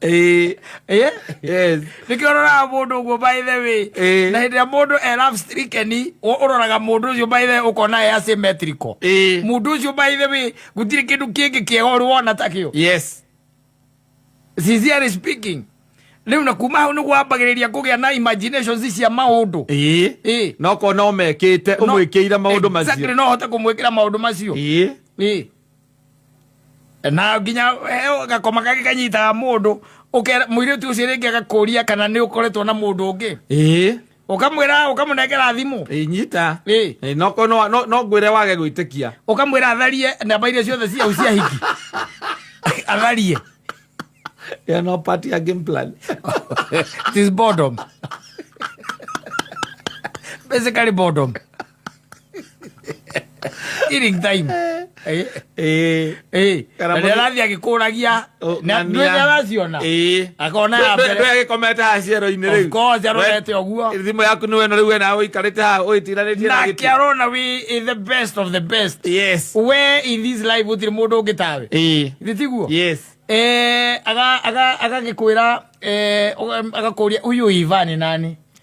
Eh, eh, yes. nĩkĩo ũroraga mũndũ ũguo by the way Eh. na hĩndĩ ĩrĩa mũndũ e love stricken ũ- ũroraga mũndũ ũcio by the way ũkona e asymmetrical Eh. mũndũ ũcio by the way gũtirĩ kĩndũ kĩngĩ kĩega ũrĩ wona takĩo yes sincerely speaking rĩu na kuma hau nĩguo wambagĩrĩria kũgĩa na imaginations cia maũndũ Eh. Eh. no kona omekite No- umwikire maundu Exactly, macio no hote kũmwĩkĩra maũndũ macio Eh. Eh. na nginya eh, gakoma gake kanyitaga mundu muiritu ucio ringi agakuria kana ni ukoretwo na mundu ungi ii ukamwira ukamunengera thimu inyita ii no no no ngwire wage gwitikia ukamwira atharie namba iria ciothe cia ucia hiki atharie ya no party ya game plan this boredom basically boredom Killing time. Eh. Eh. Eh. Kana mwe- Ndĩrathiĩ agĩkũragia. Oh, Na ng'ania. nĩ ndĩraciona. Ĩĩ. Akona ya mbere. ndwegikomete haha ciero-inĩ Of rĩu course, arorete ũguo. thimå yaku nä weno rä u wena å ikarä te haha å ĩtiranä tie na Nake gä arona we is the best of the best. We in this life gũtirĩ mũndũ ũngĩ tawe. Githĩ tiguo? Eh, aga- aga- agagĩkwĩra eh, ũga- agakũria huyu Ivan ni nani?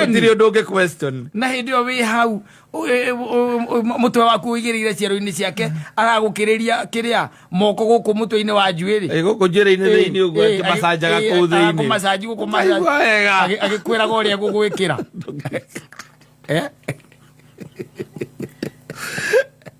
gũtirĩ ũndũ ũngĩ question na hĩndĩ ĩyo wĩ hau ũ- ĩ- ũ- ũ- mũtwe waku ũigĩrĩire ciero-inĩ ciake aragũkĩrĩria kĩrĩa moko gũkũ mũtwe-inĩ wa njuĩrĩ Ĩ, gũkũ njĩra-inĩ thĩinĩ ũguo akĩmacanjaga kũu thĩinĩ kũmacanji gũkũ Ũtaigua wega. macanji agĩkwĩraga ũrĩa egũgwĩkĩra Eh?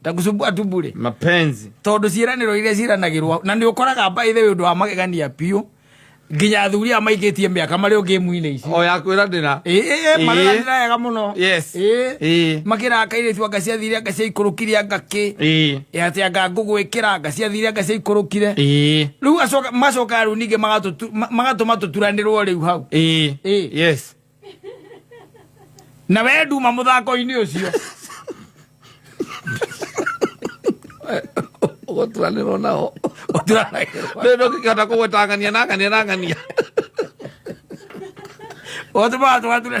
ndakusumbua tu bure mapenzi tondu ciraniro iria ciranagirwo na ni ukoraga mba ithe undu wa magegania piu nginya athuri a maikitie miaka mari ungi muine ici o ya kwira ndira eh mara ndira yega muno yes eh makira kaire tu anga cia thire anga cia ikurukire anga ki eh ya ati anga ngugwikira anga cia thire anga cia ikurukire eh riu acoka macoka riu ninge magatu magatu matuturanirwo riu hau eh yes na we nduma må thako-inä å cio gũturanĩrwo nao rĩu ndũngĩkĩhota kũgwĩtangania na ngania na ngania othe batwature